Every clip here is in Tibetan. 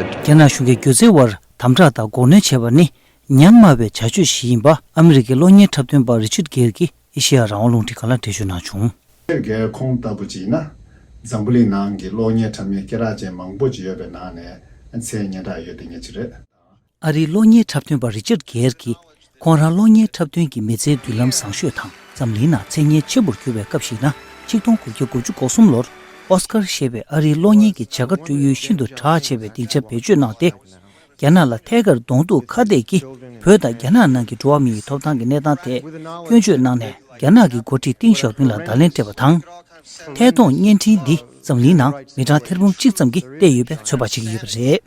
རྒྱ་ནག་གཞུང་གིས་སྒྱུ་རྩལ་བར་དམ་དྲག་དང་འགོག་གནོན་བྱས་པ་ནི་ཉམས་དམའ་བའི་བྱ་སྤྱོད་ཞིག་ཡིན་པ་ཨ་མི་རི་ཀའི་གློག་བརྙན་འཁྲབ་སྟོན་པ་རི་ཆུད་གྷེལ་གྱིས་ཨེ་ཤེ་ཡ་རང་དབང་རླུང་འཕྲིན་ཀ་ལ་འགྲེལ་བརྗོད་གནང་བྱུང། ཁྱེད་ཀྱིས་ཁོང་ལྟ་བུ་ཅིག་ཡིན་ན། འཛམ་བུ་གླིང་ནང་གི་གློག་བརྙན་འཁྲབ་མཁན་སྐེ་རགས་ཅན་མང་པོ་ཅིག་ཡོད་པའི་ནང་ནས་མཚན་སྙན་གྲགས་ཡོད་དེ་ངེད་ཅིག་རེད། ཨ་རིའི་གློག་བརྙན་འཁྲབ་སྟོན་པ་རི་ཅར་གྷེལ་གྱིས་ཁོང་རང་གློག་བརྙན་འཁྲབ་སྟོན་གྱི་མི་ཚེའི་མདུན་ལམ་བཟང་ཤོས་དང་འཛམ་གླིང་ནང་མཚན་སྙན་ཆེན་པོར་གྱུར་བའི་སྐབས་ཤིག་ན་ཆིག་སྟོང་དགུ་བརྒྱ་དགུ་ཅུ་གོ་གསུམ་ལོར་ཨོ་སི་ཀར་ཞེས་པའི་ཨ་རིའི་གློག་བརྙན་གྱི་བྱ་དགའ་སྤྲོད་ཡུལ་ཤིན་ཏུ་གྲགས་ཆེ་བའི་སྡིངས་ཆ་བེད་སྤྱོད་གནང་སྟེ། རྒྱ་ནག་ལ་ཐད་ཀར་གདོང་གཏུག་ཁ་གཏད་ཀྱིས་བོད་དང་རྒྱ་ནག་ནང་གི་འགྲོ་བ་མིའི་ཐོབ་ཐང་གི་གནས་སྟངས་ཐད་སྐྱོན་བརྗོད་གནང་ནས་རྒྱ་ནག་གི་འགོ་ཁྲིད་ཏིང་ཞའོ་ཕིང་ལ་བརྡ་ལན་སྤྲད་པ་དང། ཐད་གཏོང་བརྙན་འཕྲིན་འདི་འཛམ་གླིང་ནང་མི་གྲངས་ཐེར་འབུམ་གཅིག་ཙམ་གྱིས་བལྟས་ཡོད་པའི་ཚོད་དཔག་བྱེད་ཀྱི་ཡོད་པ་རེད།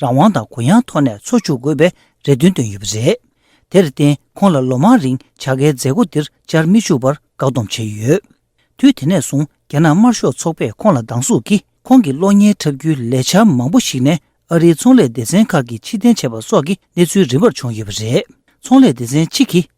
རང་དབང་དང་གུ་ཡངས་ཐོག་ནས་འཚོ་བཅུག་དགོས་པའི་རེ་འདུན་བཏོན་ཡོད་པ་རེད། དེར་བརྟེན་ཁོང་ལ་ལོ་མང་རིང་བྱ་དགའི་མཛད་སྒོ་འདིར་བཅར་མི་བཅུག་པར་བཀག་སྡོམ་བྱས་ཡོད། དུས་དེ་ནས་བཟུང་རྒྱ་ནག་དམར་ཤོག་ཚོགས་པས་ཁོང་ལ་སྡང་ཟུག་གིས་ཁོང་གི་གློག་བརྙན་འཁྲབ་རྒྱུའི་ལས་འཆར་མང་པོ་ཞིག་ནས་ཨ་རིའི་ཚོང་ལས་སྡེ་ཚན་ཁག་གིས་ཕྱིར་འཐེན་བྱས་པ་སོགས་ཀྱི་གནས་ཚུལ་རིམ་པར་བྱུང་ཡོད་པ་རེད། ཚོང་ལས་སྡེ་ཚན་གཅིག་གིས།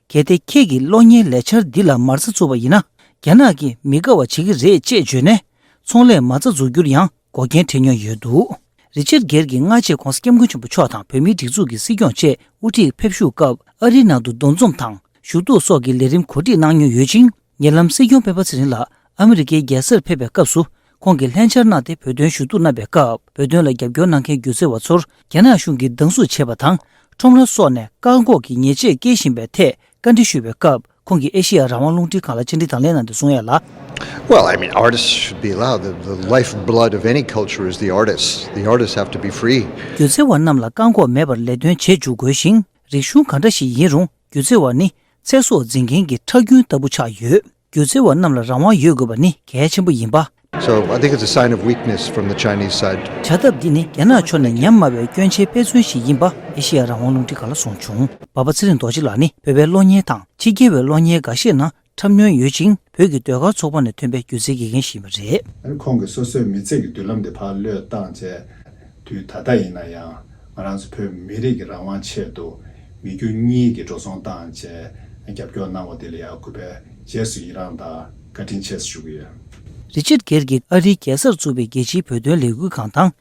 གལ་ཏེ་ཁྱེད་ཀྱིས་གློག་བརྙན་ལས་འཆར་འདི་ལ་མ་རྩ་འཛུགས་པ་ཡིན་ན། རྒྱ་ནག་གིས་མི་དགའ་བ་བྱེད་ཀྱི་རེད་ཅེས་བརྗོད་ནས། ཚོང་ལས་མ་རྩ་འཛུགས་རྒྱུར་ཡང་འགོག་རྐྱེན་འཕྲད་མྱོང་ཡོད་འདུག་རི་ཆེར་སྒེར་གྱི་སྔ་རྗེས་ཁོང་སྐྱབས་མགོན་ཆེན་པོ་མཆོག་དང་བོད་མིའི་སྒྲིག་འཛུགས་ཀྱི་སྲིད་སྐྱོང་བཅས་དབུ་ཁྲིད་ཕེབས་བཞུགས་སྐབས་ཨ་རིའི་ནང་དུ་འདུ་འཛོམས་དང་ཞུ་གཏུག་སོགས་ཀྱི་ལས་རིམ་གོ་སྒྲིག་གནང་མྱོང་ཡོད་ཅིང་ཉེ་ལམ་སྲིད་སྐྱོང་སྤེན་པ་ཚེ་རིང་ལགས་ཨ་མི་རི་ཀའི་རྒྱལ་སར་ཕེབས་པའི་སྐབས་སུ་ཁོང་གིས་ལྷན་བཅར་གནང་སྟེ་བོད་དོན་ཞུ་གཏུག་གནང་བའི་སྐབས་བོད་དོན་ལ་རྒྱབ་སྐྱོར་གནང་མཁན་སྒྱུ་རྩལ་བ་ཚོར་རྒྱ་ནག་གཞུང་གིས་སྡང་ཟུག་བྱེད་པ་དང་ཁྲོམ་ར་སོགས་ནས་བཀག་འགོག་གིས་ཉེས་ཆད་སྐྱེལ་བཞིན་པའི་ཐད་བཀའ་འདྲི་ཞུས་པའི་སྐབས། ཁོང་གིས་ཨེ་ཤེ་ཡ་རང་དབང་རླུང་འཕྲིན་ཁང་ལ་མཆན་འབྲི་དང་ལེན་གནང་དུས་གསུང་ཡས་ལ། སྒྱུ་རྩལ་བ་རྣམས་ལ་བཀག་འགོག་མེད་པར་ལས་དོན་བྱེད་འཇུག་དགོས་ཤིང་རིག་གཞུང་ག་འདྲ་ཞིག་ཡིན་རུང་སྒྱུ་རྩལ་བ་ནི་ཚེ་སྲོག་འཛིན་མཁན་གྱི་ཁྲག་རྒྱུན་ལྟ་བུ་ཆགས་ཡོད། སྒྱུ་རྩལ་བ་རྣམས་ལ་རང་དབང་ཡོད་དགོས་པ་ནི་གལ་ཆེན་པོ་ཡིན་པ་བྱ་ཐབས་འདི་ནི་རྒྱ་ནག་ཕྱོགས་ནས་ཉམས་དམའ་བའི་སྐྱོན་ཆའི་དཔེ་མཚོན་ཞིག་ཡིན་པ་ཨེ་ཤེ་ཡ་རང་དབང་རླུང་འཕྲིན་ག་ལ་གསུངས་བྱུང། འབའ་པ་ཚེ་རིང་རྡོ་རྗེ་ལགས་ནི་བོད་པའི་གློག་བརྙན་དང་ཕྱི་རྒྱལ་བའི་གློག་བརྙན་འགའ་ཤས་ནང་འཁྲབ་མྱོང་ཡོད་ཅིང་བོད་ཀྱི་ཟློས་གར་ཚོགས་པ་ནས་ཐོན་པའི་སྒྱུ་རྩལ་དགེ་རྒན་ཞིག་ཡིན་པ་རེད། ཨ་རི་ཁོང་གིས་སོ་སོའི་མི་ཚེ་གི་མདུན་ལམ་དེ་ཕར་བློས་བཏང་བྱས་དུས་ད་ལྟ་ཡིན་ན་ཡང་ང་རང་ཚོ་བོད་མི་རིགས་ཀྱི་རང་དབང་ཆེད་དུ་མི་རྒྱུ་གཉིས་ཀྱི་འགྲོ་སོང་བཏང་བཅས་རྒྱབ་སྐྱོར་གནང་བ་དེ་ལ་ཡང་གུས་པས་རྗེས་སུ་ཡི་རངས་དང། བཀའ་དྲིན་ཆེ་ཞུ་གི་ཡོད། རི་ཆར་གྷེར་གྱིས་ཨ་རིའི་རྒྱལ་སར་བཙུགས་པའི་རྒྱལ་སྤྱིའི་བོད་དོན་ལས་འགུལ་ཁང་དང།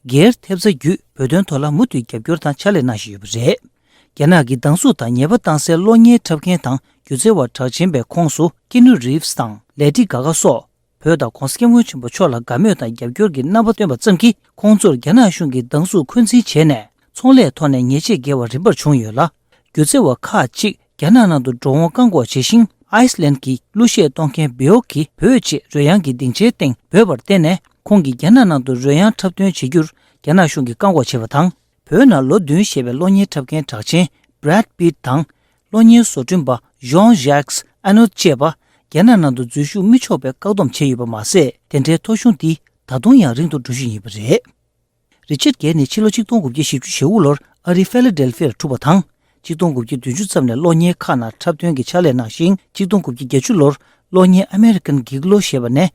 སྒེར་ཐེབས་རྩ་བརྒྱུད་བོད་དོན་ཐོག་ལ་མུ་མཐུད་རྒྱབ་སྐྱོར་དང་ཕྱག་ལས་གནང་བཞིན་ཡོད་པ་རེད། རྒྱ་ནག་གིས་སྡང་ཟུག་དང་ཉེས་པ་བཏང་སའི་གློག་བརྙན་འཁྲབ་མཁན་དང་སྒྱུ་རྩལ་བ་གྲགས་ཆེན་པའི་ཁོངས་སུ་ཀེ་ནུ་རིབ་སི་དང་ལེ་ཏི་ག་གྷ་སོགས་བོད་དང་གོང་ས་སྐྱབས་མགོན་ཆེན་པོ་མཆོག་ལ་དགའ་མོས་དང་རྒྱབ་སྐྱོར་གྱི་རྣམ་པ་སྟོན་པ་ཙམ་གྱིས་ཁོང་ཚོར་རྒྱ་ནག་གཞུང་གིས་སྡང་ཟུག་འཁོན་འཛིན་བྱས་ནས་ཚོང་ལས་ཐོག་ནས་ཉེས་ཆད་འགེལ་བ་རིམ་པར་བྱུང་ཡོད་ལ། སྒྱུ་རྩལ་བ་ཁག་ཅིག་རྒྱ་ནག་ནང་དུ་འགྲོ་འོང་བཀག་འགོག་བྱས་ཤིང Iceland གྱི་གླུ་གཞས་གཏོང་མཁན Björk གིས་བོད་ཅེས་རོལ་དབྱངས་ཀྱི་སྡིངས་ཆའི་སྟེང་འབོད་པར་བརྟེན་ནས་ཁོང་གིས་རྒྱ་ནག་ནང་དུ་རོལ་དབྱངས་འཁྲབ་སྟོན་བྱེད་རྒྱུར་རྒྱ་ནག་གཞུང་གིས་བཀག་འགོག་བྱས་པ་དང། བོད་ནང་ལོ་བདུན་བཞེས་པའི་གློག་བརྙན་འཁྲབ་མཁན་གྲགས་ཆེན Brad Pitt དང། གློག་བརྙན་བཟོ་སྐྲུན་པ Jean-Jacques Annaud བཅས་པ་རྒྱ་ནག་ནང་དུ་འཛུལ་ཞུགས་མི་ཆོག་པའི་བཀག་སྡོམ་བྱས་ཡོད་པ་མ་ཟད་དེ་འདྲའི་ཐོ་གཞུང་འདི་ད་དུང་ཡང་རིང་དུ་འགྲོ་བཞིན་ཡོད་པ་རེད། རི་ཆར་གྷེལ་ནི་ཕྱི་ལོ་ཆིག་སྟོང་དགུ་བརྒྱ་བཞི་བཅུ་ཞེ་དབུ་ལོར་ཨ་རིའི་ཕྷེ་ལེ་ཏེལ་ཕྷི་ཡར་གྲུབ་པ་དང། ཆིག་སྟོང་དགུ་བརྒྱ་བདུན་ཅུ་ཙམ་ནས་གློག་བརྙན་ཁག་ནང་འཁྲབ་སྟོན་གྱི་ཕྱག་ལས་གནང་ཞིང་ཆིག་སྟོང་དགུ་བརྒྱ་བརྒྱད་ཅུ་ལོར་གློག་བརྙན American Gigolo ཞེས་པ་ནས།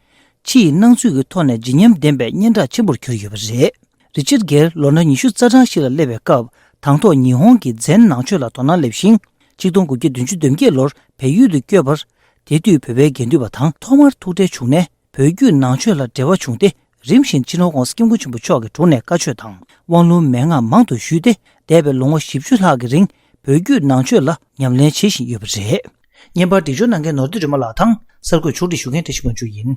ཕྱི་ཡི་སྣང་ཚུལ་གྱི་ཐོག་ནས་བརྗིད་ཉམས་ལྡན་པའི་སྙན་གྲགས་ཆེན་པོར་གྱུར་ཡོད་པ་རེད། རི་ཆར་གྷེལ་ལོ་ན་ཉི་ཤུ་རྩ་གྲངས་ཤིག་ལ་སླེབས་པའི་སྐབས་དང་ཐོག་ཉི་ཧོང་གི་མཛེས་ནང་ཆོས་ལ་དོ་སྣང་སླེབས་ཤིང། ཆིག་སྟོང་དགུ་བརྒྱ་བདུན་ཅུ་བདུན་བརྒྱད་ལོར་བལ་ཡུལ་དུ་བསྐྱོད། དེ་དུས་བོད་པའི་དགེ་འདུན་པ་དང་ཐོག་མར་ཐུག་འཕྲད་བྱུང་ནས། བོད་བརྒྱུད་ནང་ཆོས་ལ་འབྲེལ་བ་བྱུང་སྟེ་རིམ་བཞིན་ཕྱི་ནང་ཀོང་སྐྱབས་མགོན་ཆེན་པོ་མཆོག་གི་དྲུང་ནས་བཀའ་ཆོས་དང་དབང་ལུང་མན་ངག་མང་དུ་ཞུས་ཏེ་འདས་པའི་ལོ་ངོ་བཞི་བཅུ་ལྷག་གི་རིང་བོད་བརྒྱུད་ནང་ཆོས་ལ་ཉམས་ལེན་བྱེད་བཞིན་ཡོད་པ་རེད། བརྙན་པར་འབྲི་སྦྱོར་གནང་མཁན་ནོར་སྡེ་སྒྲོལ་མ་ལགས་དང་གསར་འགོད་ཕྱོགས་བསྒྲིགས་ཞུ་མཁན་བཀྲ་ཤིས་དབང་ཕྱུག་ཡིན།